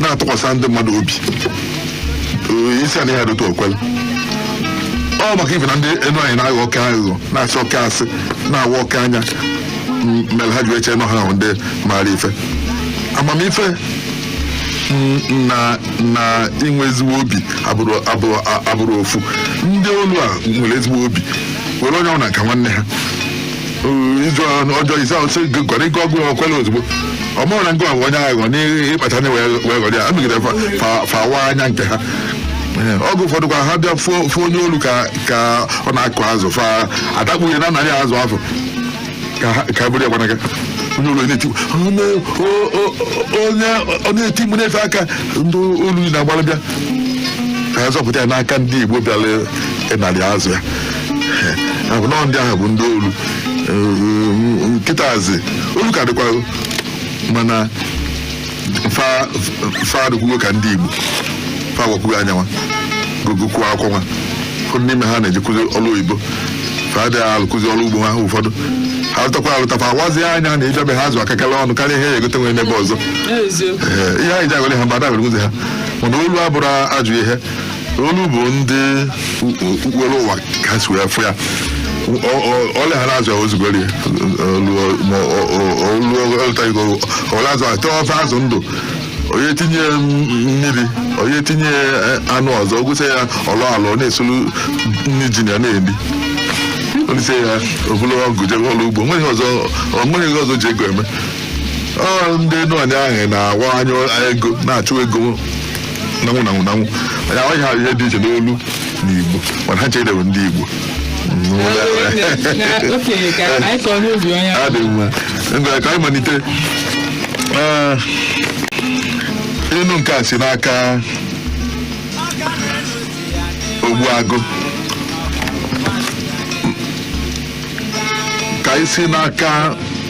na-atụkwasị ndị mmadụ obi Ee, isi anaghị adịtụ o kwela ọ maka ife na ndị enuanị na-aghọ oke aghụghọ na-asị oke asị na-awa oke anya m- mere ha ji eche na ọ ha bụ ndị maara ife amamife m- na na inwe ezigbo obi abụrọ ofu ndị olu a nwere ezigbo obi were onye ọbụla ka nwanne ha izu ọjọọ ise ahụ sị gwara ike ọgụ o kwela ozugbo ọ marọ na nke a bụ onye aghụghọ n'ịkpacha anya wee ghọrọ ya amegide fa- fa- fa waa anya nke ha Ee, oge ụfọdụ kwa ha bịa fụ onye olu ka ka ọ na-akụ azụ fa adakpo ya nara ya azụ afụ ka ha- ka buru ya gbanaga onye olu na-eti onye o- o- onye ọ na-eti mkpu na-efe aka ndị olu na-agbara bịa ka ha zọpụta ya n'aka ndị igbo bịara ịnara ya azụ ya ọ bụ na ọ ndị ahụ bụ ndị olu kịtazị olu ka dịkwa mana fa fa adịkwugo ka ndị igbo fa awakwugo anya nwa gụkwuo akwụkwọ nwa ụfọdụ n'ime ha na-ejekwuzi ọrụ oyibo fa adịghị alụkwuzi ọrụ ugbo ha ụfọdụ ha lụtakwa alụtakwa awazi anya na ị bịa be ha azụ aka gala ọnụ karịa ihe ya egote nwere n'ebe ọzọ eziokwu Ee, ihe anyị ji agwale ha mgbe ada agwere ha mana olu abụrọ ajọ ihe olu bụ ndị okpukpere ụwa ka ha si wee fụ ya o lie ha na azụ ya o zugori olu ọ lọtago o lie azụ e tee ofe azụ ndụ onye tinye mmiri onye tinye anụ ọzọ ọ gwụsịa ọlọ alọ na-esolu nri ji ya na-eri o lisịa o bulu ọgụ jebe ọlụ ugbo onweghị ọzọ onweghị ihe ọzọ o ji ego eme ọ ndị enuanị ahụ na-awa anya ego na-achụ ego na-anwụ na-anwụ na-anwụ anyị amaghị ha ihe dị iche n'olu na igbo mana ha cha bụ ndị igbo ọ dị mma ngwa ka anyị malite Ee, inu nke a si n'aka ogbuagụ ka anyị si n'aka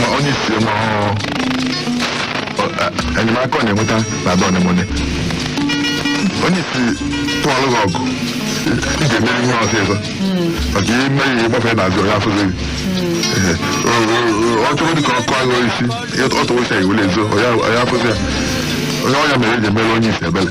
ma onye isi ma ọ- ọ- a- enyemaka ọ na-enweta na ada ọnemone onye isi tụọlụ gị ọgụ ị ga-emeri ya ọsịsọ maka ihe ime ya ịgbafe n'azụ ọ ya afụzi gị Ee, o- o- o- ọ chọrọ dị ka ọkụ agụ isi ọ tụwasịa i wele zoo ọ ya afụzi ya ọ nya mere e ji emere onye isi ebele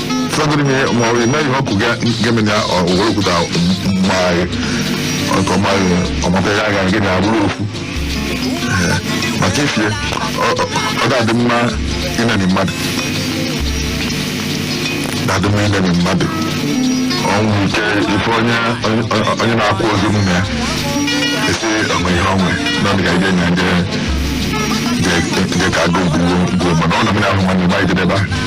fọdụrụ ihe ma ọ bụ ime ihe ọkụ ga-eme na owere okwuta mma anyị nke ọma anyị ọmataghị aga gị na abụrụ okwu Ee, maka ifie ọ- ọ- ọ ga-adị mma ịnani mmadụ ga-adị mma ịnani mmadụ ọnwụ ike ife onye onye- onye na-akwụ ozi m na ya esi onwe ihe onwe na ọ dị ka ije na nje nke ka agụ gbuo gbuo mana ọ na m na-ahụ mmadụ ma ijidebe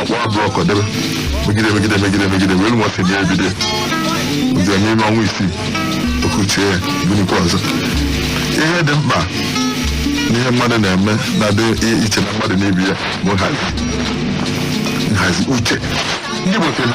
ọ kpụ block debe megide megide megide megide wee nwa si na-ebido ụzọ n'ime ọnwa isii okuchie ya binikwa ọzọ ihe dị mkpa n'ihe mmadụ na-eme na-adị i- iche na mmadụ na-ebi ya bụ nhazi nhazi uche ndị Igbo sị na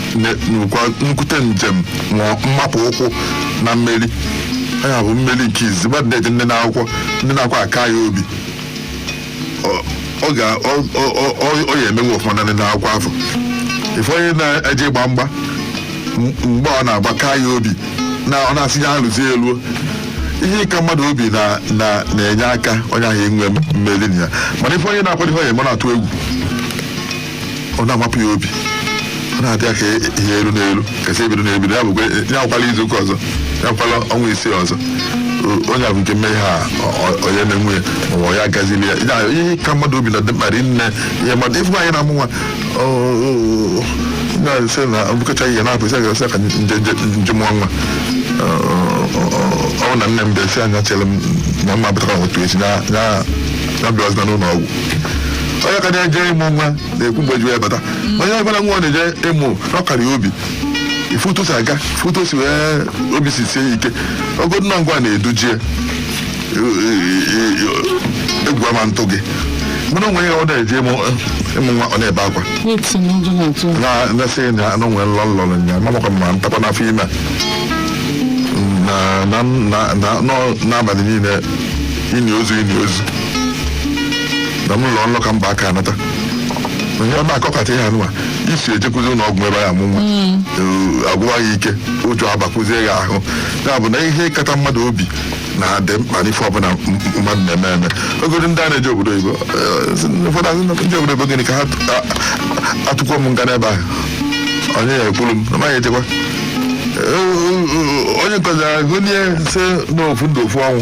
nye- nwekwa nkwute njem ma mmapụ ụkwụ na mmeri ya bụ mmeri nke izizi mmadụ na-eje ndị na-akwụkwọ ndị na-akwa aka ya obi ọ- ọ ga- ọ- ọ- ọ- ọ- ọ ya emewe ọfụma na ndị na-akwụkwọ afụ ịfụ onye na-eje ịgba mgba m- mgbe ọ na-agba ka ya obi na ọ na-asị ya alụzi elu ihe ka mmadụ obi na- na- na-enye aka onye ahụ enwe mmeri na ya mana ife onye na-akwado ife onye mụ na-atụ egwu ọ na-amapụ ya obi ọ na-adị ya ka ihe elu n'elu kasị ebido n'ebido ya bụkwa ya akwala izu ụka ọzọ ya akwala ọnwa isii ọzọ O- onye ahụ nke mmehie a ọ- ọ- onye na-enwe ya ma ọ ya agazili ya Ya, ihe ka mmadụ obi na dị mkpa rinne ihe mmadụ ịfụ nwaanyị na-amụ nwa ọ- ọ- ọ- na-asị na mbụkacha ihe na-apụ isi agasị ka m je m je m je mụọ nwa Ọ- ọ- ọ- ọ- ọ bụ na nne m bịa si anya chere m na mma apụtara otu echi na na na bịa ọzọ n'ụlọ ọgwụ onye ka na-eje ịmụ nwa na-ekwu mgbe o ji bata onye ọbụla nwa ọ na-eje ịmụ ọ kara ya obi ịfụ otu o si aga ịfụ otu o si wee obi si sie ya ike ọ bụgodu na ngịnwa na-eduje ya egwu ama atụ gị mana o nwee onye na-eje ịmụ ịmụ nwa ọ na-ebe akwa Eti na ụjọ na-atụ ya. na na-asị na o nwere nlọ nlọ nya mamakwa ma ntakwa n'afọ ime a. na na na na- n'abalị niile ini ozu ini ozu na m lọọ nlọ ka mba aka anata onye ọba akọkata ihe anụwa isi ejekwuzi ụlọ ọgwụ ebe ọ ya-amụ nwa Ee, agwụwa ya ike ụjọ abakwuzie ya ahụ ya bụ na ihe kata mmadụ obi na-adị mkpa n'ife ọbụla m- m- mmadụ na-eme eme ọ bụgodu ndị a na-eje obodo oyibo eh, sị na ụfọdụ asị na ndị obodo oyibo gịnị ka ha tụ- a- a- atụkwa m nga n'ebe ahụ onye ya ekwuru m na maghị echekwa Eh, eh, eh, onye nke ọzọ ekulie sị na ofu ndụ ofu ọnwụ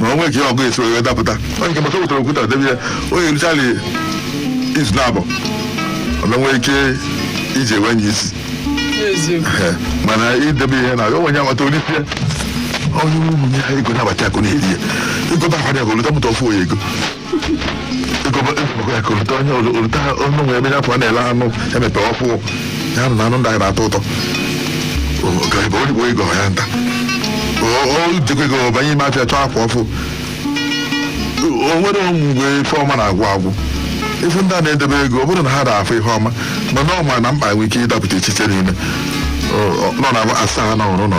ma o nwee ka ihe ọgụ esi wee dapụta onye nke maka wetara okwuta debe ya onye richara izu na abụ ọ na nwee ike iji enwe nye isi eziokwu Ee, mana idebe ihe na ya onwe ya nwata olite onye ụmụ ya ego na-abata akụ na-eri ya ịgụta akwa ya bụ olite mụta ofu onye ego ekolite onye olute ọnụ nwere ebe nya pụọ a na-ele anụ emepe ọ fụ ya na anụ ndị anyị na-atọ ụtọ gaibe oligbo ego ya nta o jikwa ego banye ime afịa chọọ akwa ọfụụ o nwere mgbe ife ọma na-agwụ agwụ ife ndị a na-edebe ego ọ bụrụ na ha na-afụ ihe ọma mana ọ ma na mkpa nwere ike ịdapụta echiche niile nọ na asaa na ọrụ nọ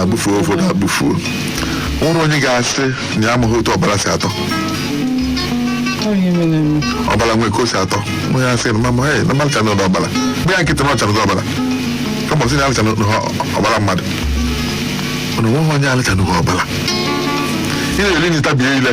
abụfuo ụfọdụ abụfuo nwere onye ga-asị na ya amaghị otu ọbara si atọ ọbara nwee ka o si atọ onye asị na mama ee na m alịchanụrọ ọbara gbaa ya nkịtị na ọ lịchanụgo ọbara kama ọ sị na alịchanụrọ ọbara mmadụ mana onweghị onye alịchanụrọ ọbara ị na-eri nri tabie ile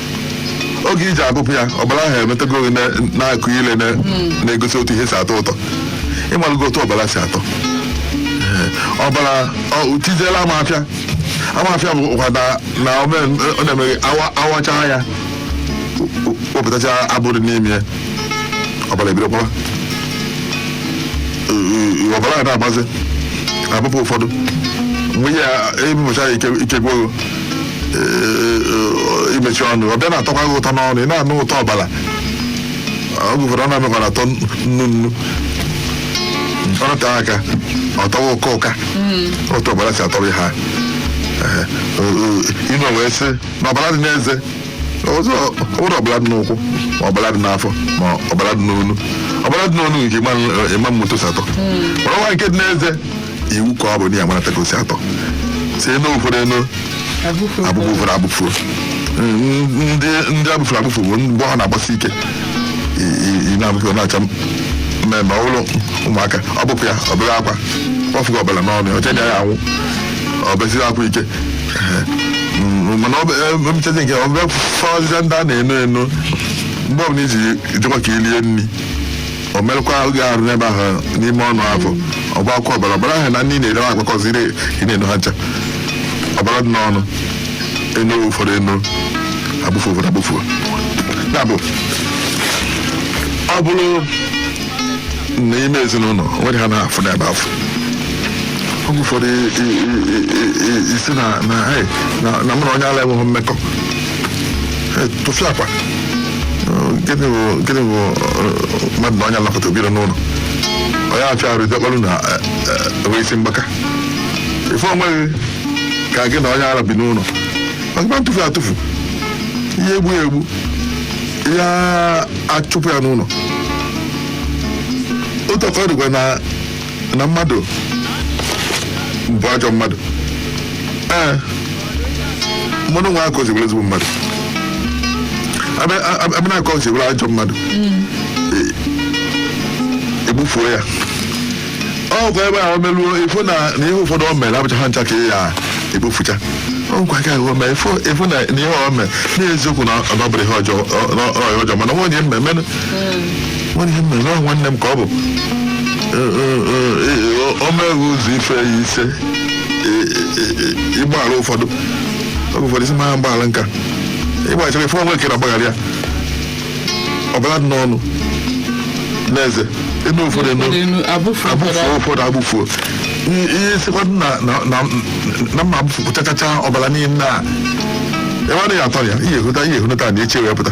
oge i ji abụpụ ya ọbara ahụ emetụgo gị na- na-akụ ile na- na-egosi otu ihe si atọ ụtọ ịmalụgo otu ọbara si atọ Ee, ọbara ọ- tiziela amafịa amafịa bụkwa na- na ọ mee- ọ na-emeghị awa- awachaa ya wepụtacha abụ dị n'ime ya ọbara ebido gbawa ọbara a na-agbazi abụpụ ụfọdụ mgbe ya abụpụcha ya ike ike gwụrụ eh, imechi ọnụ ọ bịa na-atọkwa gị ụtọ n'ọnụ ị na-anụ ụtọ ọbara oge ụfọdụ ọ na-emekwa na atọ nnu nnu ọ nọte aka ọ tọwa ụka ụka otu ọbara si atọrọ ha inu wee sị na ọbara dị n'eze ọzọ ọ bụrọ ọbara dị n'ụkwụ ma ọbara dị n'afọ ma ọbara dị n'onu ọbara dị n'onu nke ị ma ama otu o si atọ ọbara nke dị n'eze iwu ka ọ bụ na ya marata ka o si atọ sị eno ụfọdụ eno abụfu ụfọdụ abụfuo ndị ndị abụfuru abụfu bụ mgbe ọ na-agbasi ike i- i- i na-abụfu ọ na-acha mmee mmee ọ bụrụ ụmụaka ọ bụpụ ya o bee akwa ọ fụgo ọbara n'ọnụ ya o chee na ya anwụ o besiri akwa ike Ehe. Mm, mana ọ bụ emechazi nke ọ bịa fọzie ndị a na-eno eno mgbe ọbụla i ji jekwa ka i lie nri o merụkwa gị arụ n'ebe ahụ n'ime ọnụ afụ ọ gbakwa ọbara ọbara ahụ na nri ị na-eri agbakọziri ị na-eno ha ncha ọbara dị n'ọnụ eno ụfọdụ eno abụfu ụfọdụ abụfu ya bụ ọ bụrụ n'ime ezinụlọ o nwere ihe a na-afụ n'ebe afụ oge ụfọdụ i- i- i- i- i- ị sị na na hey, na- na mụ na onye ala enweghị mmekọ Hey, tụfịakwa gịnị bụ gịnị bụ eh, mmadụ na onye ala kọta biri n'ụlọ ọ ya-afịa arụ idekparụ na eh, eh, enwe isi mgbaka ife onweghị ka gị na onye ara bi n'ụlọ maka ị ma-atụfu ya atụfu ị ya-egbu ya egbu ị ya- achụpụ ya n'ụlọ otu a ka ọ dịkwa na na mmadụ bụ ajọ mmadụ ee mmadụ nwee aka o si were ezigbo mmadụ abịa na aka o si were ajọ mmadụ egbufuo ya ọ kwa ebe a o meluo efu na na ihe ụfọdụ o mere abụcha ha ncha ka ya egbufucha ọkwa ka ahụ mee efu na ihe o mee n'eziokwu na ọ bụrụ ihe ọjọọ mana nwa onye mmemme nwanne m mere ọ nwanne m ka ọ bụ o mee gị ụzọ ife ya ise ị gbaghara ụfọdụ oge ụfọdụ ị sị ama m agbaghara nka ịgbaghachara ife onwe kere agbaghara ya ọbara dị n'ọnụ n'eze enoo ụfọdụ enoo enoo abụfu abụfuo ụfọdụ abụfuo I- ihe sikwadụ na na- na- na m ma abụfuchachacha ọbara niile a ebe a naghị atọ ya ihe ehụta ihe ehụta na eche wee pụta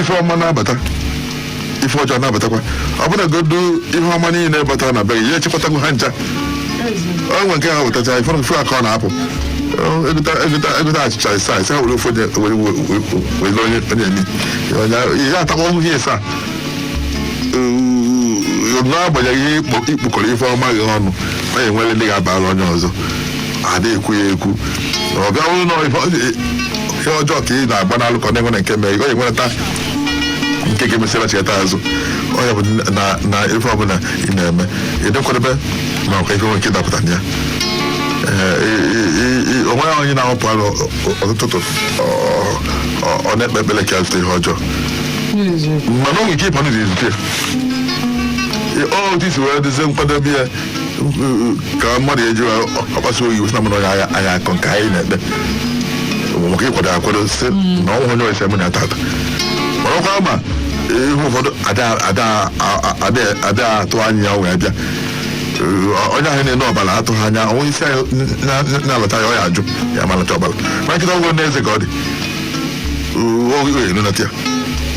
ife ọma na-abata ife ọjọọ na-abatakwa ọ bụrụ godu ihe ọma niile batara na be gị ya echekọtago ha ncha o nwe nke ha wetacha ife ife aka ọ na-apụ egota achịcha ịsa ịsa were ofe were were onye onye emi ya atakwa ọhụhụ ihe ịsa n'agbanyeghị ihe i kpokọrọ ife ọma gị ọnụ ọ ga-enwere ndị ga-abara onye ọzọ ada ekwu ya ekwu ọ bịa bụrụ na ife ọ- ihe ọjọọ ka ị na-agbanalụ ka ọ na-enwere nke mee ọ enwereta nke ga-emesịra cheta azụ ọ ya bụ na na ife ọbụla ị na-eme ị dị nkwadebe makwa ife nwere ike ịdapụta na ya Ee, ị- ị- ị- ị- o nweghị onye na-apụ ọrụ ọ- ọ- ụtụtụ ọ- ọ- ọ na-ekpe ekpere ka ya zute ihe ọjọọ mana o nwere ike ịpụ n'ụzọ izute otu i si wee dozie nkwadebe ya ka mmadụ eji ọkpasa oyi wesị na mmadụ onye agha agha akọ nke anyị na-ekpe bụ maka ịkwado akwado si na ọnwa onye ọchịchị mụ na tata mana ọkwa ma ihe ụfọdụ ada- ada- a- a- ada- ada atụ anya ya wee bịa Ee, onye ahụ na-eno ọbara atụghị anya onye isi anyị na- na- na-alọta ya ọ ya ajụ ya ma alọta ọbara ma nkịta ọgwụ ndị eze ka ọ dị oge elu na tia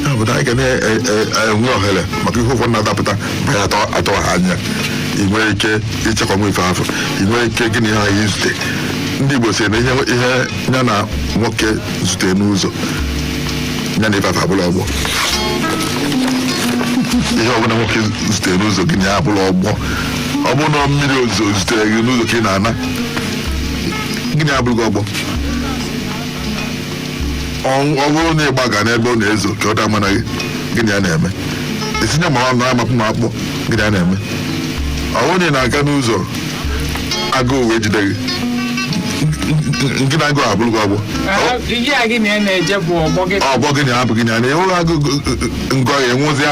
ya bụ na anyị ga na-enwe ohere maka ihe ụfọdụ na-adapụta mgbe atụ atụghị anya ị nwere ike ịchekwa nwa ife afụ ị nwere ike gị na ihe ahụ ezute ndị igbo sị na ihe ihe ya na nwoke zute n'ụzọ ya na ife afụ abụrụ ọgbọ ihe ọbụla nwoke zute n'ụzọ gị na ya abụrụ ọgbọ ọ bụrụ na mmiri ozuzo zutere gị n'ụzọ ka ị na-ana gị na ya abụrụgo ọgbọ ọ ọ bụrụ na ị gbaga n'ebe ọ na-ezo ka ọ daa mana gị gị na ya na-eme etinye ma ọ na-amapụ ma akpọ gị na ya na-eme ọ bụrụ na ị na-aga n'ụzọ agụụ wee jide gị ngị na agụụ abụrụgo ọgbọ ihe a gị na ya na-eje bụ ọgbọ gị ọgbọ gịnị abụ gịnị a na-enweghị agụụ ngọ ya enwezịa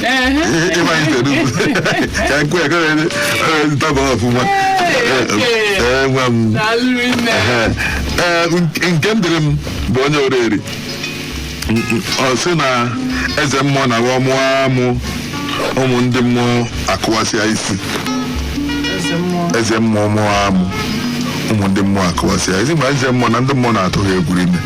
ịmanye tere ugwu ka nkwe ya kọrọ ede ntaba ọfụma ee nwa m Daalụ nne. Ehe. Ee, nke- nke m dịrị m bụ onye oriri ọ sị na eze mmụọ na awa mụọ amụ ụmụ ndị mmụọ akụwasịa isi Eze mmụọ. eze mmụọ mụọ amụ ụmụ ndị mmụọ akụwasịa isi ma eze mmụọ na ndị mmụọ na-atụ ha egwu rinne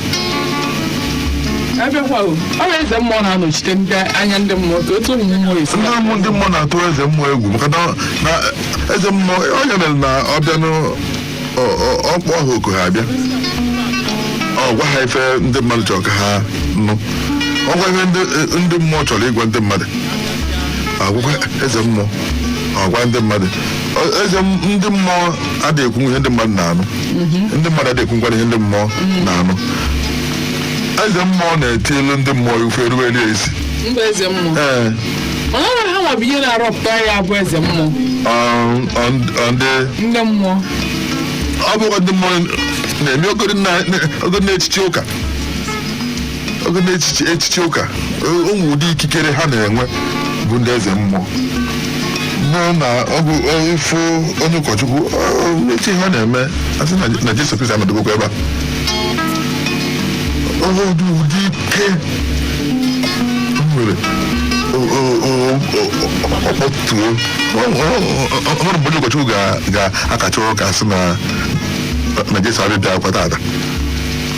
abịakwa o ọ bụ eze mmụọ na-anọchite ndị anya ndị mmụọ ka otu ụmụ mmụọ esi ndị ụmụ ndị mmụọ na-atụ eze mmụọ egwu maka na na eze mmụọ ọ ya mere na ọ bịa na ọ kpọọ ha oku ha abịa ọ gwa ha ife ndị mmadụ chọrọ ka ha nụ ọ gwa ihe ndị ndị mmụọ chọrọ ịgwa ndị mmadụ agwakwa eze mmụọ ọ gwa ndị mmadụ Ọ- eze m- ndị mmụọ adịghị ekwu ihe ndị mmadụ na-anụ ndị mmadụ adịghị ekwukwanụ ihe ndị mmụọ na-anụ eze mmụọ na-eti ilu ndị mmụọ ife erugheri ezi ndị eze mmụọ ee mana ọ nwere ha nwa bụ ihe na-arọpụta ya bụ eze mmụọ ọ- ọ- ọ ndị ndị mmụọ ọ bụkwa ndị mmụọ na-eme ogori na- na- ogori na-echichi ụka oge na echichi echichi ụka o nwe ụdị ikikere ha na-enwe bụ ndị eze mmụọ mmụọ na ọ bụ ọ- ịfụ onye ụkọchukwu ọ- echi ha na-eme asị na na jesu kristi anọdụgokwa ebe a ọ bụ ụdị ike o nwere o- o- o- o- ọ kpọtuo Ọ- ọ- ọ- o nwerọ mgbe onye ụkọchukwu ga- ga-akacha ụka sị na na jesu abị- abịarọkwa taata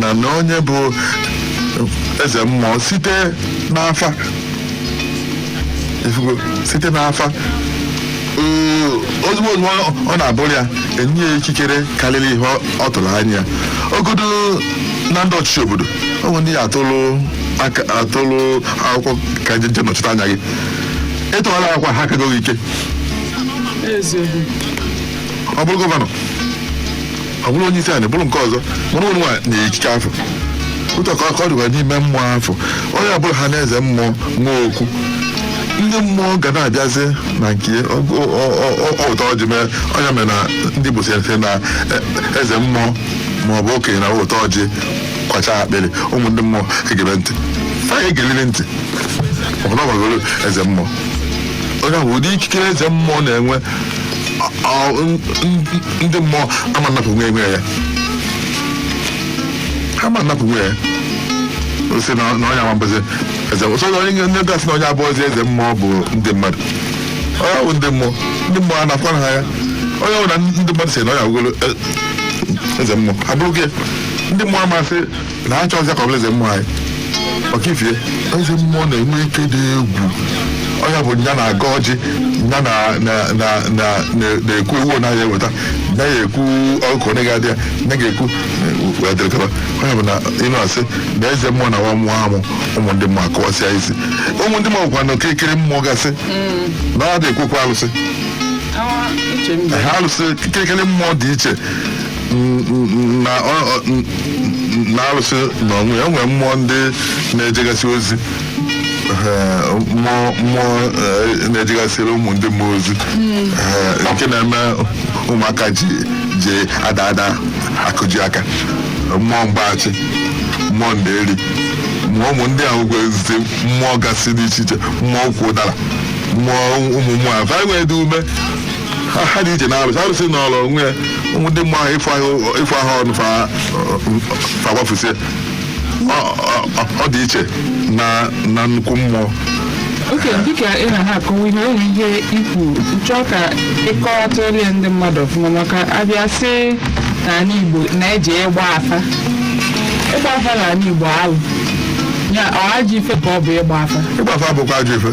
na na onye bụ eze mmụọ site n'afa ifugo site n'afa ee, ozugbo ozugbo ọ- ọ na-abụrụ ya enye ya ikikere karịrị ihe ọ- ọ tụrụ anya ogodo na ndị ọchịchị obodo o nwe ndị ya atụrụ aka atụrụ akwụkwọ ka ha je jee nọchite anya gị ị tụọrọ ha akwụkwọ ha akago gị ike eziokwu ọ bụrụ gọvanọ ọ bụrụ onye isi anyị bụrụ nke ọzọ mụrụ onwe nwa na ikike afụ etu a ka ọ dịkwa n'ime mmụọ afụ onye ọbụla ha na eze mmụọ nwee okwu ndị mmụọ ga na-abịazi na nke ụtọ ọjị mee ọ ya mere na ndị Igbo sị na e, eze mmụọ ma ọ bụ okenye na ụtọ ọjị kwachaa akpịrị ụmụ ndị mmụọ egebe ntị fa egeliri ntị ọbụla gbagoro eze mmụọ ọ ya bụ ụdị ikikere eze mmụọ na-enwe ndị mmụọ ama anapụnwu enwe ya ha ama anapụnwu ya sị na onye ama abụzi eze ọ sọ onye nye ndị ga-asị na onye abụrọzi eze mmụọ bụ ndị mmadụ ọ ya bụ ndị mmụọ ndị mmụọ a na-akwa ha ya ọ ya bụ na ndị mmadụ sị na onye agwụgolo eze mmụọ abụrụ gị ndị mmụọ amasị na anyị chọrọzi ka ọ bụrụ eze mmụọ anyị ọkifie eze mmụọ na-enwe ike dị egwu ọ ya bụ nya na-agọ ọjị nya na- na- na- na- na- na-egbu ewu ọ naghị eweta nya ya ekwu ọkụ onye ga-adị ya nya ga-ekwu wee dịrị kaba ọ ya bụ na ịnụ asị na eze mmụọ na nwa mmụọ amụ ụmụ ndị mmụọ akọwasịa isi ụmụ ndị mmụọ kwa na okirikiri mmụọ gasị na ọ dị ekwekwa alụsị ha alụsị kirikiri mmụọ dị iche n- n- na ọ- ọ- n- n- na arụsị n'onwe ya o nwere mmụọ ndị na-ejegasị ozi Ee, mmụọ mmụọ ee, na-ejegasịrị ụmụ ndị mmụọ ozi Ee, nke na-eme ụmụaka ji ji ada ada akụji aka mmụọ mgbaghachi mmụọ nderi mmụọ ụmụ ndị ahụ kwezite mmụọ gasị dị iche iche mmụọ ukwu ụdara mmụọ ụmụ mmụọ a va enwedị ume ha ha dị iche na arụsị arụsị nọrụ onwe ya ụmụ ndị mmụọ ahụ ịfụ ahụ- ịfụ ahụ ọnụ fa fa gbafusie Ọ- ọ- ọ- ọ dị iche na na nnukwu mmụọ okay dịka ị na-akọwa ihe o nwere ihe ikwu chọọ ka ị kọwatalụ ndị mmadụ ọfụma maka a bịa sị n'ala igbo na-eji ịgba afa ịgba afa n'ala igbo alụ ya ọ ajọ ife ka ọ bụ ịgba afa ịgba afa bụkwa ajọ ife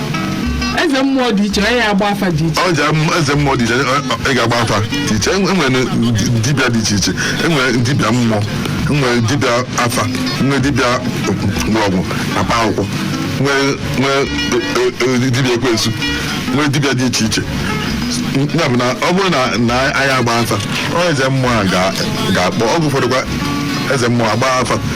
eze mmụọ dị iche onye agba afa dị iche ọ ji am- eze mmụọ dị iche ị ga-agba afa dị iche enwere ndi- dibịa dị iche iche enwere dibịa mmụọ enwere dibịa afa nwee dibịa mgbọrọgwụ na mkpa akwụkwọ nwee nwee e- e- e- dibịa ekwensu nwee dibịa dị iche iche ya bụ na ọ bụrụ na na anyị agba afa ọ eze mmụọ a ga- ga-akpọ oge ụfọdụkwa eze mmụọ agba afa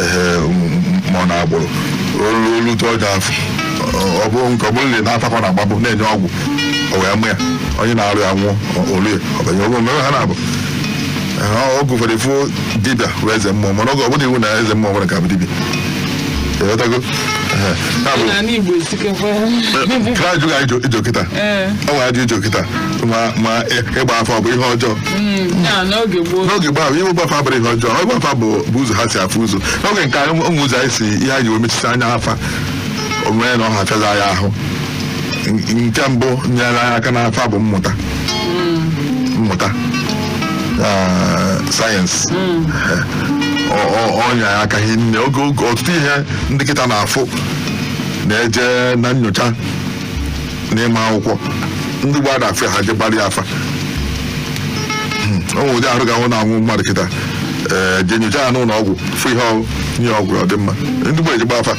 ee ma ọ na-agbụrụ olu olu tụọ gị afọ Ọ- ọ bụrụ nke ọ bụrụ na ị na-atakwa na agbabụ na-enye ọgwụ o wee mụ ya onye na-arụ ya nwụọ olu ya ọ banye ọgwụ mere ha na-abụ Ee, oge ụfọdụ ị fụ dibịa bụ eze mmụọ mana oge ọ bụrọ iwu na eze mmụọ nwere ga-abụ dibịa ị ghọtago Ee, ya bụ N'ala Igbo esikekwa. ka ajụ ka ị jụ kịta Ee. o nwere ajụ ị jụ kịta ma ma ịgba afa ọ bụ ihe ọjọọ Mm, ya n'oge gboo n'oge gbaa ihe ịgba afa abụrọ ihe ọjọọ ịgba afa bụ bụ ụzọ ha si afụ ụzọ n'oge nke anyị ụmụ ụzọ anyị si ihe anyị wee mechisi anya afa o nwere na ọ ha fịaza ya ahụ N- nke mbụ nyere anyị aka n'afa bụ mmụta mmụta ah, sayensị Ọ- ọ- ọ nyere anyị aka hie nne oge oge ọtụtụ ihe ndị kịta na-afụ na-eje na nyocha n'ịma akwụkwọ ndị gboo na afịa ha je gbaara ya afa o nwere ụdị arụ ga-anwụ na-anwụ mmadụ kịta ee je nyocha ya n'ụlọ ọgwụ fụ ihe ọ bụ nye ọgwụ ọ dị mma ndị gboo eje gbaa afa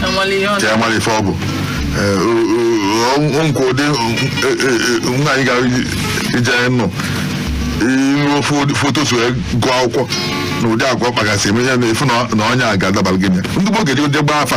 Enwere ihe ọ ka ya mara ife ọ bụ Ee, o- o- o- o nke ụdị e- e- e- nwaanyị gara iji- ije anyị nọ iruo fo- foto so ya gụọ akwụkwọ na ụdị agwa ọ kpagasị eme ya na-afụ na na onye a ga-adabara gị na ya. ndị gboo ga-eji je gbaa afa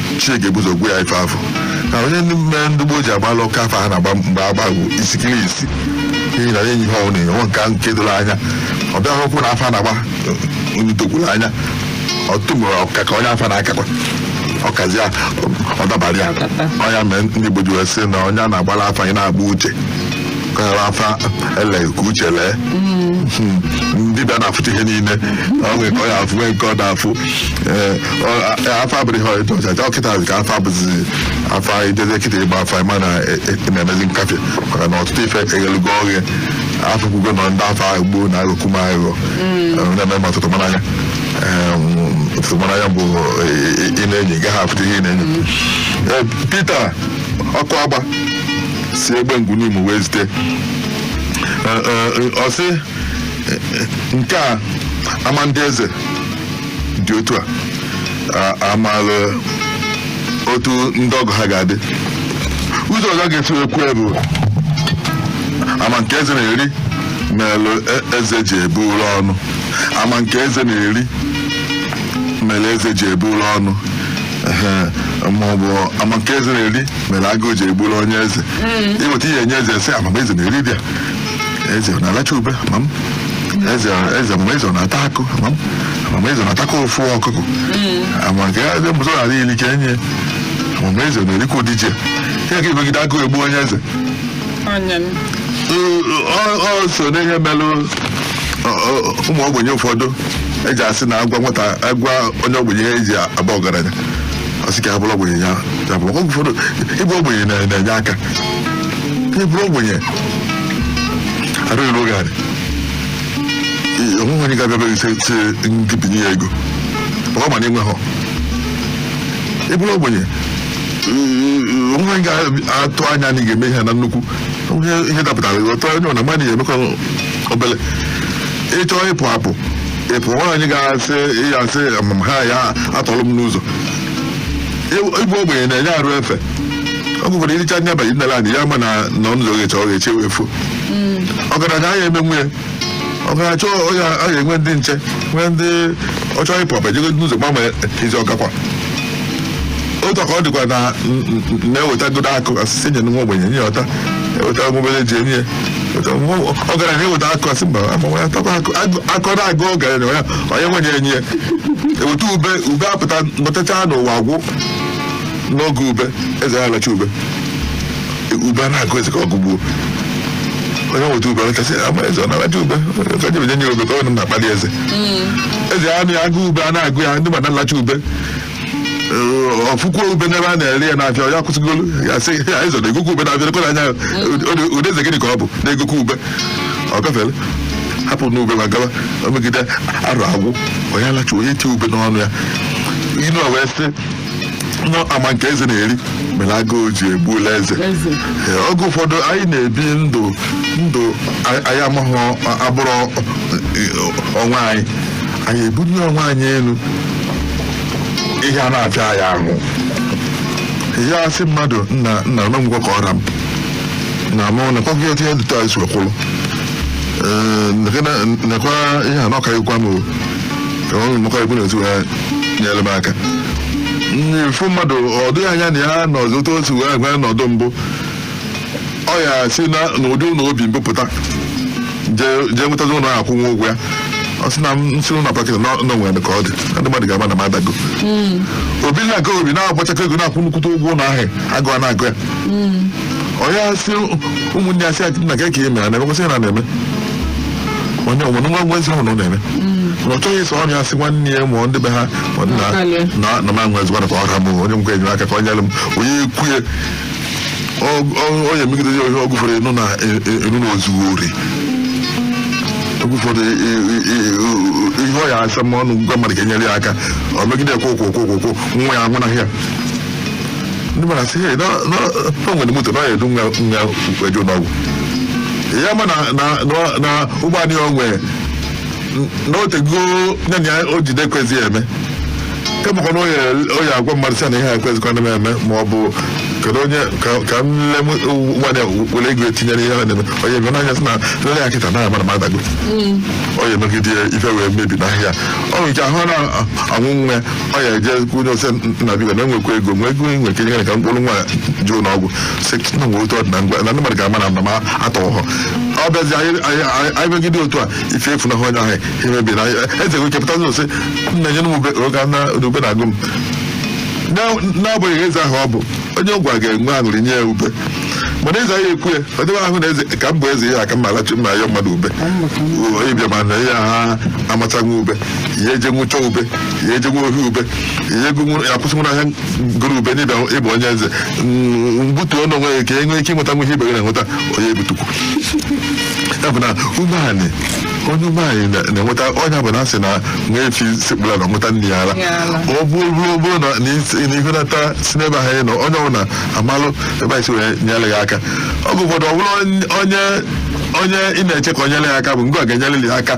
chineke ebuzo gwa ya ife afa na onye ndị mere ndị gboo ji agbalụ ọka afa ha na-agba mgbe agbagwo isikiri isi n'ihi na enyi ha ọ na-enwe nke nke doro anya ọ bịa hụkwụ na afa a na-agba edokwurọ anya ọtụtụ mgbe ọka ka onye afa na-akakwa ọ kazie ya ọ dabara ya ọ ya mee ndị Igbo ji wee sị na onye a na-agbara afa ya na-agba uche kara afa ele ka uche lee na dibịa na-afụta ihe niile ọ nwere nke ọ ya-afụ nwee nke ọ na-afụ ee ọ- a- afa abụghị ihe ọjọọ ọ kịta ka afa bụzi afa anyị dede kịta ịgba afa anyị mana e- e- na-emezi nkafe maka na ọtụtụ ife eghelugo oghe afụkwugo na ndị afa gboo na-aghọkwu aghụghọ na-eme m ọtụtụ mara anya Em, ọtụtụ mara anya bụ ị- ị- ị na-ene ị gaghị afụta ihe ị na-ene Ee, Peter Okuagba si Egbengwu Nimo wee zite Ee, ee, ọ sị nke a ama ndị eze dị otu a a- amaala otu ndị ọgọ ha ga-adị ụzọ ọzọ a ga-esi wee kwuo ya bụ ama nke eze na-eri melụ e- eze ji ebulu ọnụ ama nke eze na-eri mere eze ji ebulu ọnụ Ehe, maọbụ ama nke eze na-eri mere agụụ ji egburu onye eze ị weta ihe enye eze sị ama ma eze na-eri ụdị a eze ọ na-alacha ube ama ma eze eze ma eze ọ na-ata akụ ama ma eze ọ na-atakwa ofu ọkụkọ ama nke ya eze mbụzọ na-adị iri ka enye ma eze ọ na-erikwa ụdị ji a a ga-emegide agụụ egbuo onye eze Onye m. Ee, ọ ọ so n'ihe melụ ọ- ọ- ụmụ ogbenye ụfọdụ eji asị na a gwa nwata a gwa onye ogbenye ihe eji aba ọgaranya ọ sị ka ya bụrụ ogbenye ya ya bụrụ oge ụfọdụ ịbụ ogbenye na- na-enye aka ka ị bụrụ ogbenye arụ eruo gị anị onweghị onye ga-abịa be gị sị gị binye ya ego ọ ma na ị nweghị ị bụrụ ogbenye onweghị onye ga-atụ anya na ị ga-eme ihe na nnukwu onye ihe dapụtara gị ọtọ onye ọ na mmadụ ya emekọ obele ị chọọ ịpụ apụ ị pụ nwaanyị ga-asị ya asị ama ma ha ya-atọrọ m n'ụzọ ịbụ ogbenye na-enye arụ efe ọ bụkwara iricha anya abalị nne anyị ya ma na na ọ nụzọ ghecha ọ gheche wee fo ọgaranya anyị eme nwunye ọgaranya chọọ onye a ga-enwe ndị nche nwee ndị ọ chọọ ịpụ apụ jego n'ụzọ gbanwe ezi ọgakwa otu ka ọ dịkwa na na-ewetagodu akụ a sị sị nye nwa ogbenye nye ọ taa eweta obere ji enye ọgaranya eweta akụ a sị mba agbanwe atakwa akụ na-agụ ọgaranya onye onye nwenye enye eweta ube ube apụta nọtacha n'ụwa gwụ n'oge ube eze ya alacha ube ube a na-agụ eze ka ọ gụgbuo onye nweta ube alachasị ama eze ọ na-alacha ube ka jebe nye nye ube ka ọ na-akpali eze eze ya anụ ya agụ ube a na-agụ ya ndị ma na-alacha ube Ee, ọ fụkwa ube n'ebe a na-ere ya n'afịa ya akwụsị golu ya sị ya eze na-egokwa ube n'afịa lekwa anya ụdị eze gịnị ka ọ bụ na-egokwa ube ọ gafere hapụ n'ube ma gawa o megide arụ agwụ onye alacha onye tie ube n'ọnụ ya inu a wee sị na ama nke eze na-eri mere agụụ ji gbuo eze eze Ee, oge ụfọdụ anyị na-ebi ndụ ndụ anyị anyị amaghị abụrụ onwe anyị anyị ebunye onwe anyị enu ihe a na-afịa anyị ahụ ị ya-asị mmadụ nna nna nekwa ka ọ ra m na mụ nakwa gị otu ihe dịtụ anyị si wee kwụrụ Ee, nekwa ihe a na ọka ịgwa m o ọrụ maka ekwu na-etu ha nyere m aka mfu mmadụ ọ dịghị anya na ya nọzi otu otu wee gwa n'ọdụ mbụ ọ ya si na n'ụdị ụlọ o bi mbụ pụta jee jee nwetazi ụlọ ọ ya-akwụnwu ụgwọ ya ọ sị na m si ụlọ pụa kịta na o nwere ka ọ dị na ndị mmadụ ga-ama na m adago o bi na nke o bi na-agbachakọ ego na-akwụ nnukwute ụgwọ ụlọ ahụ agụụ a na-agụ ya ọ ya-asị ụmụnne ya sị na gị ka ị mere na-eme kwesịrị na na-eme onye ọ mụrụ nwa nwa ezi ahụ na ọ na-eme na ọ chọghị ịsa ọnụ ya sị nwanne ya ma ọ ndị be ha ma nna Akalị. na na ma nwa ezigbo ka ọ ha bụ onye nkwa enyere aka ka ọ nyere m onye ekwu ya ọ- ọ- onye megide ya onye oge ụfọdụ ị nụ na ị nụ na o zuru ori oge ụfọdụ e- e- e- e- ihe ọ ya-asa ọnụ gwa mmadụ ka e nyere ya aka ọ megide ya kwụ kwụ kwụ kwụ kwụ nwa ya anwụnahụ ya ndị mara sị "Hey, na- na- na o nwere moto na ọ ya-edu nwa nwa eje ụlọọgwụ ya ma na na- na- na ụgbọala ya o nwe na o tego nye na ya o jide ekwezi ya eme kemụkwa na ọ ya ọ ya-agwa mmadụ sị na ihe ekwezikwa na m eme ma ọ bụ kedu onye ka- ka m lee ụgbọala ya were ego etinyere ihe ọ na-eme onye eme n'anya sị na m lee ya kịta na mara m adago onye megide ife wee mebinahụ ya ọ nwere ike ahụ na anwụ nwe ọ ya eje kwunye ọ sị nna biko na enwekwa ego nwee ego enwe ike nyere ka m kpọrọ nwa jee ụnọ ọgwụ si na nwe otu ọ dị na ngwa na ndị mmadụ ga-ama na mba ma atọ ọhọ ọ bịazi anyị anyị- anyị- anyị megide otu a ife efu na onye ahụ emebi na eze wee chepụta ụzọ sị nna nye m ube oge na ube na-agụ m Na- n'agbanyeghị eze ahụ ọ bụ onye ọ gwa ga-enwe aṅụrị nye ya ube mana eze anyị ekwu ya ọ dịwa ahụ na eze ka m bụ eze ihe aka mma alachi mma ya mmadụ ube ị bịa mana ya ha amachaghị ube ihe eje nwụcha ube ihe eje nwe ohi ube ihe ego nwụrụ ya kwụsị nwụrụ ahịa goro ube n'ịbịa ịbụ onye eze Mm, mbutu ọnụ onwe ya ka e nwee ike ịnweta nwa ihe ibe gị na-enweta onye ebutukwu ya bụ na umeanị onye umeanị na- na-enweta onye bụ na a sị na nwa efi sekpulu ana ṅụta nne ya ara Ya ala. ọ bụrụ bụrụ ọ bụrụ na na isi- na ihe nata si n'ebe ahụ ị nọ onye ọbụla amalụ ebe anyị si wee nyere gị aka oge ụfọdụ ọ bụrụ onye onye ị na-eche ka o nyere ya aka bụ ngwa ga-enyere ya aka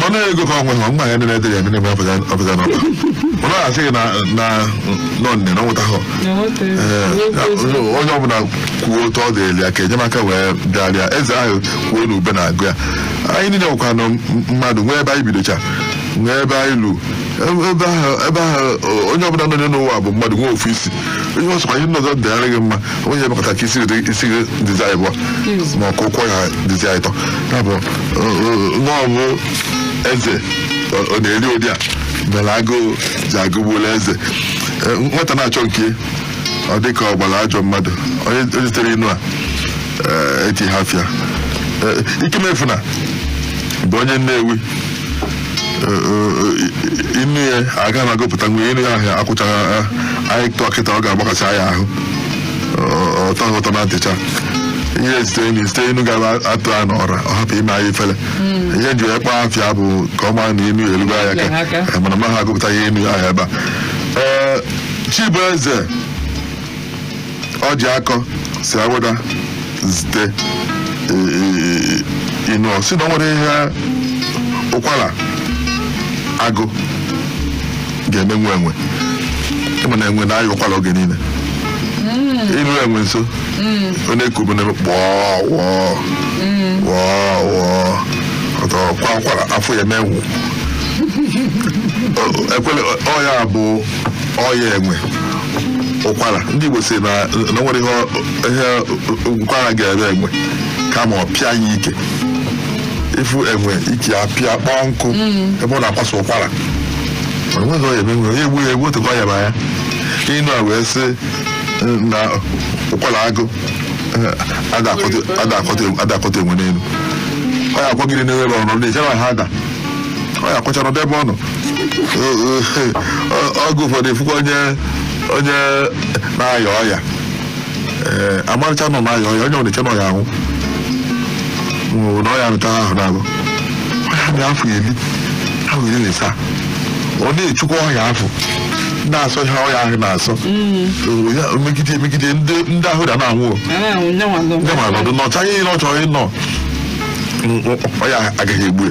mana ego ka o nwe nwa ya nene dịrị ya nene afọ ya afọ ya n'ọba mana a sịghị na na nọ nne na nweta hụ onye ọbụla kwuo otu ọ dịrị ya ka enyemaka wee bịara ya eze ahụ kwuo na ube na-agụ ya anyị niile nwekwa na mmadụ nwee ebe anyị bidocha nwee ebe anyị lu ebe ahụ onye ọbụla nọ n'ụwa bụ mmadụ nwee ofu isi ihe ọsọ anyị nnọzọ dị ara gị mma onye emekọta ka isi gị dịzi n'ịbụọ ma ọ ka ụkwụ ya dịzi n'ịtọ ya bụ n'ọ bụ eze ọ na-eri ụdị a mere agụụ ji agụgbula eze Eh, nwata na-achọ nke ọ dị ka ọ gbara ajọ mmadụ onye onye zitere inu a eh, eti afa ya Eh, ikemefuna bụ onye nnewi Eh, eh, eh, inu ya aga na-agụpụta nwe inu ya ahụ akwụchaghị anyị tụọ kịta ọ ga-agbakasị anyị ahụ ọ- ọ tọọ ụtọ na ntị cha ihe zite anyị zite inu a ga-atụ n'ọra ọ hapụ ime anyị ifele ihe m ji wee kpọọ afa ya bụ ka ọ maa na inu ya elugo anyị Elugo aka. mana maha agụpụta inu ya ahụ ebe a Ee, chibueze ojiakọ si awada zite e, e, e, inu ọ si na ọ nwere ihe ụkwara agụ ga-eme nwa enwe ị ma na enwe na-aya ụkwara oge niile i luo enwe nso ọ na-eku bụ n'ebe kpọọ wọọ wọọ wọọ ọtọ kwa ụkwara afọ ya mee wụ Ọ- ekwele ọ ya bụ ọya enwe ụkwara ndị Igbo si na na nwere ihe ọ- ihe ụkwara ga-eme enwe kama ọ pịa ya ike ị fụ enwe ike ya pịa kpọọ nkụ ebe ọ na-akwaso ụkwara mana nwere onye ebe nwere egbu ya egbu otukwa ya ma ya inu a wee sị na ụkwara agụ ada akọta enwe n'elu ọ ya akwagide n'ebe ọ nọ na-echere ha ada ọ ya akwachara nọdụ ebe ọ nọ oge ụfọdụ ị fụkwa onye onye na-aya ọya ee amarịcha na ọ na-aya ọya onye ọ na-eche na ọ ya anwụ nwụrụ na ọya rụta ahụ na-abụ ọya dị afọ iri ahụ iri na ịsaa ọ na-echekwa ọya afụ na-asọ ihe ọya ahụ na-asọ O ya- o megide emegide ndị ndị ahụ da na-anwụ o. Ara ahụ nye nwa ndị ma nọdụ nọchaa ihe ọ chọrọ ịnọ ọya agaghị egbu ya.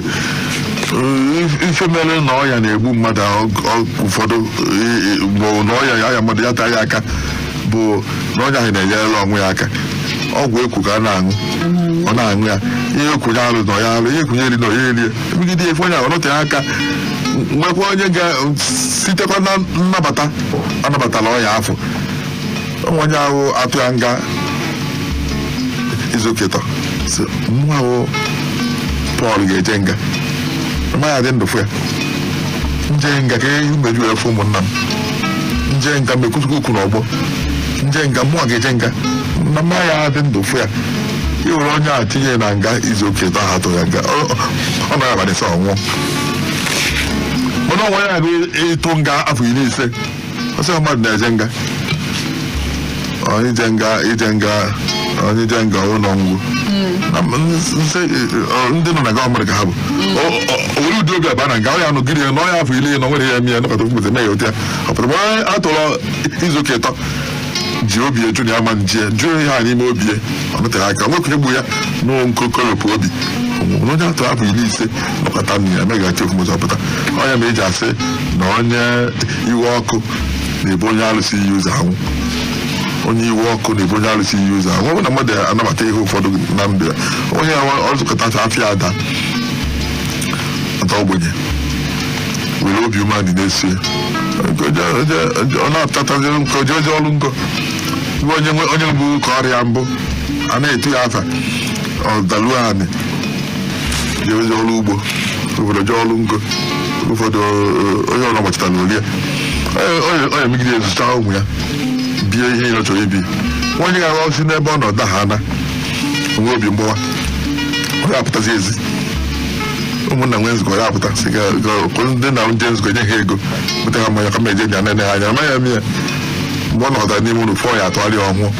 Ee, ife mere na ọya na-egbu mmadụ ahụ, ọ- ụfọdụ ee, ee, bụ na ọya ya ya mmadụ ya taa ya aka bụ na onye ahụ na-enyere onwe ya aka ọgwụ e kwu ka a na-aṅụ ọ na-aṅụ ya ihe e kwu na ya alụna ya alụ ihe e kwu na ya erina ya eri megide efe onye ahụ ọ nọteghị aka nwekwa onye ga sitekwa na nnabata anabatala ọya afụ onwe onye ahụ atụ ya nga izu ụka ịtọ sị mụwa bụ pọl ga-eje nga mma ya dị ndụ fụ ya nje nga ka ihe mmeju efu ụmụnna m nje nga m ekwuzi okwu n'ọgbọ nje nga mụwa ga-eje nga na mma ya adị ndụ fụ ya e were onye a tinye na nga izu ụka ịtọ a tụrụ ya nga ọ ọ- ọ nọ abalị ịsaa ọ nwụọ mana o nwe onye a ga-atụ nga afọ iri ise ọ sị ọ mmadụ na-eje nga onye ije nga ije nga onye ije nga ụlọ ngwụ ndị nọ na gọọmenti ka ha bụ o were ụdị obi aba na nga ọ ya anọgide ya n'ọya afọ iri na-enweghị ihe ya eme ya nọkata mgbede mee ya ụdị ya ọ pụta mgbe onye a tụrụ izu ụka ịtọ ji obi eju na ya ma nji ya jụọ ihe a n'ime obi ya ọ nọtere aka nwekwunye gbu ya na nkoropụ obi ọ nwụọ onye a tụrụ afọ iri ise nọkata nna ya meghachi okwumụzọ pụta ọ ya mere e ji asị na onye iwe ọkụ na-ebu onye alụsị iyi ụzọ anwụ onye iwe ọkụ na-ebu onye alụsị iyi ụzọ anwụ ọ bụ na mmadụ anabata ihe ụfọdụ na ndụ ya onye ya ọ zụkọtacha afịa a daa taa ogbenye were obi umeanị na-esi ọ na-apụtatazi nke o je o je ọrụ ngo iwe onye nwe- onye mbụ karịa mbụ a na-etu ya afa ọ daluo anị jewezi ọrụ ugbo ụfọdụ jee ọrụ ngo ụfọdụ eh, onye ọrụ agbachita na o lie onye megide azụcha ụmụ ya bie ihe ya chọrọ ibi onye ga-arụ o si n'ebe ọ nọ daa anị o nwee obi mgbawa ọ ga-apụtazi ezi ụmụnna nwee nzukọ ya apụta sị ga- ga- kwụ ndị na ndị nzukọ nye ha ego bute ha mmanya kama eje nya nene ha anya amaghị eme ya mgbe ọ nọtara n'ime ụlọ fụ ọ ya atụgharị ọ nwụọ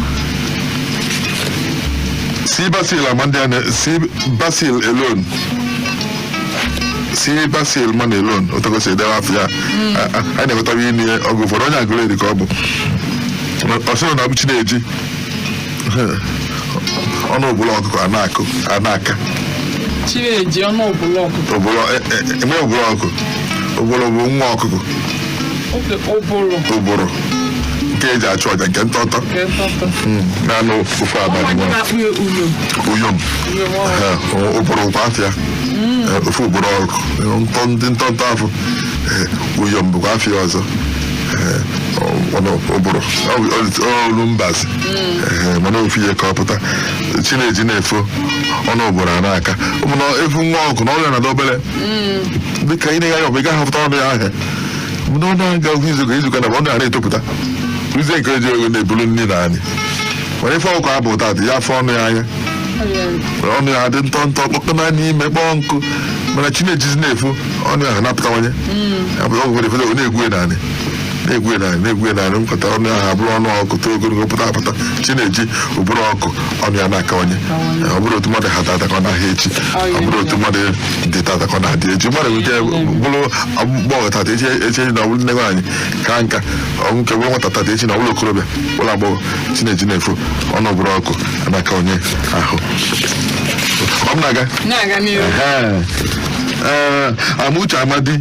si basil amandiane si basil alone si basil man alone otu o si edewe afa ya a- a- a na-enwetara inu ya ọgụ ụfọdụ onye Agụleri ka ọ bụ ọ sịrị na ọ bụ chi na-eji ọnụ ụbụrụ ọkụkọ a na-akụ a na-aka chi na-eji ọnụ ụbụrụ ọkụkọ ụbụrụ enwe ụbụrụ ọkụkọ ụbụrụ bụ nwa ọkụkọ ụbụrụ ụbụrụ nke eji achụ aja nke ntọtọ nke ntọtọ naanị ofe abalị anyị nwa na-akpọ ya uyom uyom uyom nwa Ee, ọ- ụbụrụ kwa afa ya Ee, ofe ụbụrụ ọkụkọ Ee, ntọ ndị ntọntọ afọ Ee, uyom bụkwa afa ya ọzọ Ee, ọ- ọnụ ụbụrụ Ọ bụ- ọ dị- ọ olu mbazi Ee, mana ofu ihe ka ọ pụta chi na-eji na-efo ọnụ ụbụrụ a na-aka ị ma na ị fụ nwa ọkụkọ na ọnụ ya na-adị obere dịka ị na-ene anya ọ bụ ị gaghị afụta ọnụ ya anya mana ọ na-aga oge izuka izuka na ọnụ ya na-etopụta ruzie nke eji ego na-ebulu nri n'anị mana ị fụ ọkụkọ abụ ụta dị ya afụ ọnụ ya anya ọnụ ya adị ntọ ntọ kpọkọ na n'ime kpọọ nkụ mana chi na-ejizi na-efo ọnụ ya na-apụtawanye apụta ọgwụ efere ọ na-egwu n'anị na-egwu n'anị na-egwu n'anị mpụta ọnụ ya abụrụ ọnụ ọkụkọ too ogologo pụta apụta chi na-eji ụbụrụ ọkụkọ ọnụ ya na-akawanye ọ bụrọ otu mmadụ ha tata ka ọ na-aha echi ọ bụrọ otu mmadụ dị tata ka ọ na-adị echi mmadụ nwere ike bụrụ agbọghọ tata echi echi na ọ bụrụ nne nwaanyị ka nka o nwere ike bụrụ nwata tata echi na ọ bụrụ okorobịa bụrụ agbọghọ chi na-eji na-efo ọnụ ụbụrụ ọkụkọ a na-aka onye ahụ ọ m na-aga na-aga n'ihu Ehe. Ee, Amuche Amadi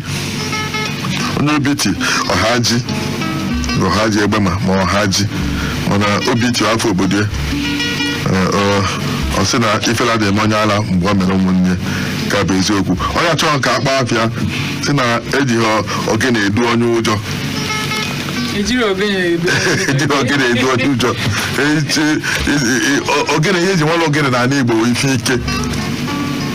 onye obiti ọhaji na ọhaji egbema ma ọhaji mana obiti afa obodo ya Ee, ọ- ọ sị na ifele adị eme onye ala mgbe ọ mere ụmụnne ka bụ eziokwu onye achọghị ka a kpọọ afa ya sị na ejighị ọ- ogene edu onye ụjọ ejirọ ogene edu ejighị ogene edu onye ụjọ Eji- e- e- e- ogene ihe e ji mara ogene n'ala igbo bụ ife ike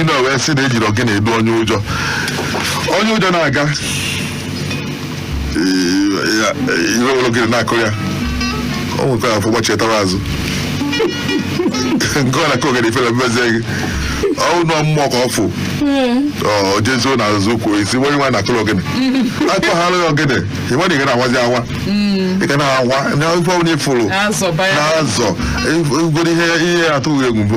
ime wee sị na ejirọ ogene edu onye ụjọ onye ụjọ na-aga ị wee were ogene na-akụ ya o nwekwara afọ gbachitara azụ nke ọ na-akụ ogene ifere emezie gị ọnwụ nọ mmụọ ka ọ fụ ọ jezuo na azụ kwuo isi onye nwa na-akụrụ ogene akpaghara ya ogene ị nwere ike na-awazi awa ị ga na-awa na ife ọbụla ị fụrụ Azọba ya. na-azọ igoro ihe ihe atụghị egwu mbụ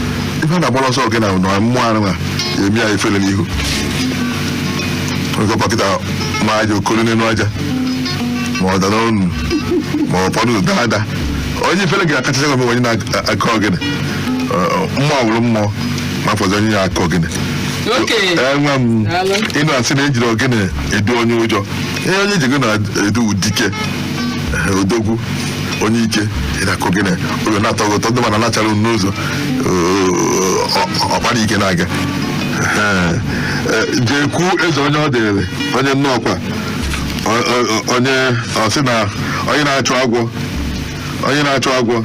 ife a na-agbara ọsọ ogene na mmụọ anụ a emi ya efere n'ihu oge ọkpakịta ma aja okoro n'elu aja ma ọ dara ọnụ ma ọ fọdụ daa ada onye ifere ga-akachacha gị onye na-akụ ogene mmụọ wụrụ mmụọ ma fọzi onye na-akụ ogene okenye enwe m Daalụ. ị nụ a sị na ejirọ ogene edu onye ụjọ ihe onye e ji ogene edu dike odogwu onye ike ị na-akụ gị na oge na-atọ gị ụtọ ndị mana na-achara unu n'ụzọ ọ- ọ- ọkpara ike na-aga Ee, e, jee kwuo eze onye ọ dịrị onye nnọọkwa Ọ- ọ- ọ- onye ọ sị na onye na-achụ agwọ onye na-achụ agwọ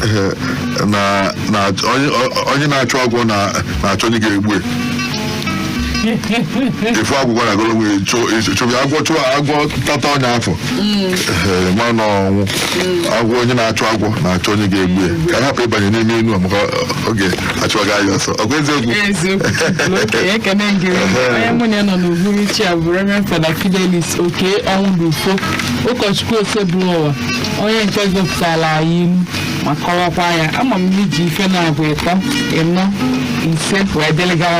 eh, na na onye- onye na-achụ agwọ na- na-achọ onye ga-egbu ya efu agwụgwa na agụrụ nwere chụba agwọ chụọ agwọ tata onye afụ Ee, ma na ọnwụ agwọ onye na-achụ agwọ na-achọ onye ga-egbu ya ka a hapụ ịbanye n'ime enu a maka ọ ga-achụ aga ya ọsọ ọkwa eziokwu eziokwu oke ekene dịrị onye mụ na ya nọ n'uhuruchi a bụ Reverend Fada Fidelis Okey Ọnwụdụfọ ụkọchukwu Osebụlụwa onye nke gụpụtara anyị ilu ma kọwakwa ya ama m na iji ife na-abụ ịtọ ịnọ ise wee dịrị gawa